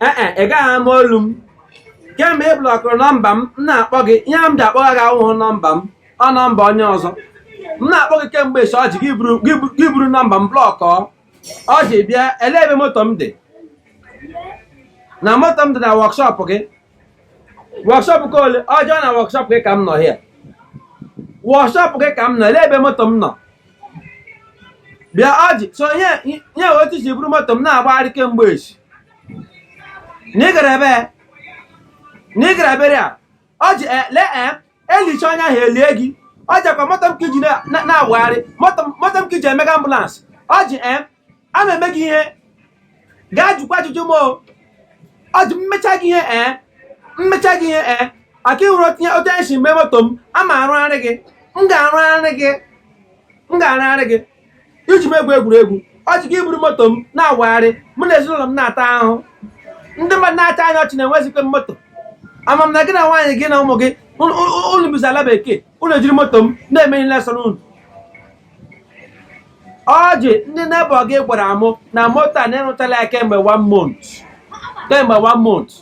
ee e, ị gaghị ama olu m kemgbe ị blọkụrụ nọmba m m na-akpọ gị ihe m ji akpọgha gị awụghị nọmba m ọ nọmba onye ọzọ m na-akpọ gị kemgbe esi ọjị gị buru- gị buru- gị buru nọmba m blọkụ ọ ọjị bịa elee ebe moto m dị na moto m dị na wọkshọp gị wọkshọp ke ole ọjị ọ na wọkshọp gị ka m nọ hịa wọkshọp gị ka m nọ elee ebe moto m nọ bịa ọjị so ihe ihe otu i si buru moto m na-agbagharị kemgbe echi na ị gara ebe na ị gara burial ọjị e- lee e elichaa onye ahụ elie gị ọjị akwa moto m ka iji na- na- na-agbagharị moto m- moto m ka iji emega ambụlansị ọjị e a ma eme gị ihe gaa jụkwa ajụjụ m ọjị m mechaa gị ihe ee m mechaa gị ihe ee maka ịhụrụ otu anyị otu anyị si mee moto m a ma arụgharị gị m ga-arụgharị gị m ga-arụgharị gị iji m egwu egwuregwu ọjị gị eburu moto m na-awagharị mụ na ezinụlọ m na-ata ahụhụ ndị mmadụ na-achị anyị ọchị na enwezikwe m moto ama m na gị na nwaanyị gị na ụmụ gị unu bizi ala bekee unu ejiri moto m na-eme ihe ọbụla sọrọ unu ọjị ndị nebọ gị gwara mụ na moto a na ị rụtala ya kemgbe one month kemgbe one month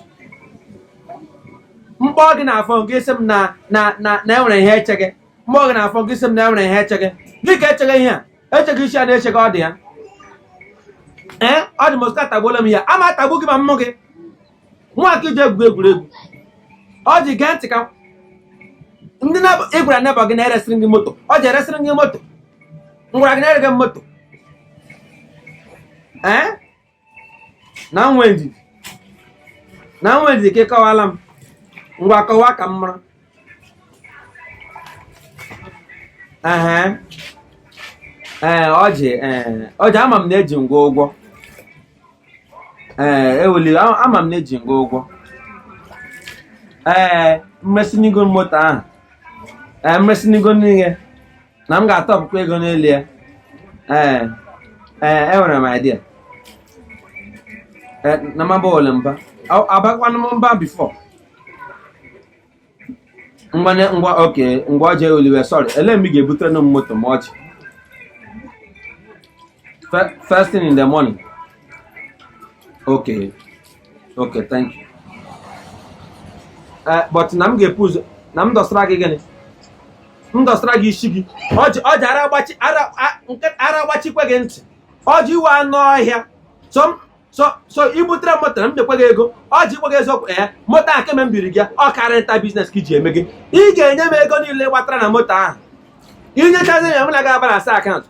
m kpọọ gị na fon gị sị m na na na na enwere ihe echega m kpọọ gị na fon gị sị m na enwere ihe echega gị ka echega ihe a echega isi a na-eche gị ọ dị ya ee ọjị mọskito atagbuola m hịa ama atagbu gị ma m hụ gị mụwa ka iji egwu egwuregwu ọjị gee ntị ka ndị ị gwara nebọ gị na eresịrị m gị moto ọjị eresịrị m gị moto m gwara gị na erega m moto ee na m nwee ndidi na m nwee ndidi ka ị kọwaara m ngwa kọwa ka m mara ee ọjị ọjị ama m na eji m gị ụgwọ ee ewela iwe ama m na eji m gị ụgwọ ee m resị nụ gị moto ahụ ee m resị nụ gị n'ihe na m ga-atọpụkwa ego n'elu ya ee ee enwere m idea na m abala mba abakwanụ m mba bifo mmanye ngwa okay ngwa ọjị ewela iwe sorry ele mgbe ị ga-ebutere nụ m moto m ọjị Fe- first thing in the morning okay okay thank you Eh, but na m ga-ebu ụzọ na m dọsara gị gịnị m dọsara gị isi gị ọjị ọjị ara agbachi ara a- nke- ara agbachikwa gị ntị ọjị ị wụ anụ ọhịa so m so so ibutere m moto na m nyekwa gị ego ọjị ikwughị eziokwu ee moto ahụ kemgbe m biri gị ọ car rental biznes ka iji eme gị ị ga-enye m ego niile gbatara na moto ahụ inyechazi ya m na gị abalansịa akaụntụ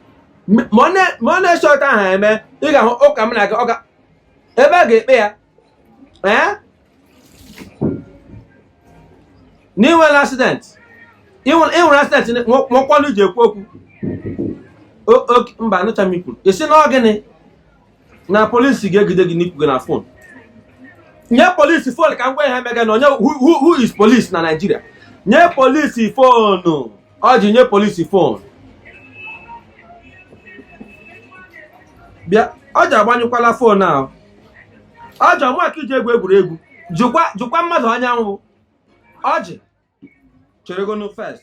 ma ọ na-eche otu ahụ eme ị ga-ahụ ụka m na gị ọ ga ebe a ga-ekpe ya ee na inwere asidenti inwere asidenti nwekwa ọnụ ji ekwu okwu mba anụcha m ikwuru ị sị na ọ gịnị na polisi ga-egide gị n'ikwuga na fon nye polisi fon ka m gwa ihe mega na onye who is polisi na naijiria nye polisi fonu ọjị nye polisi fon bịa ọjị agbanyụkwala fon ahụ ọjị ọ mụ ka iji egwu egwuregwu jụkwa mmadụ onye m wụ ọjị cheregonụ fest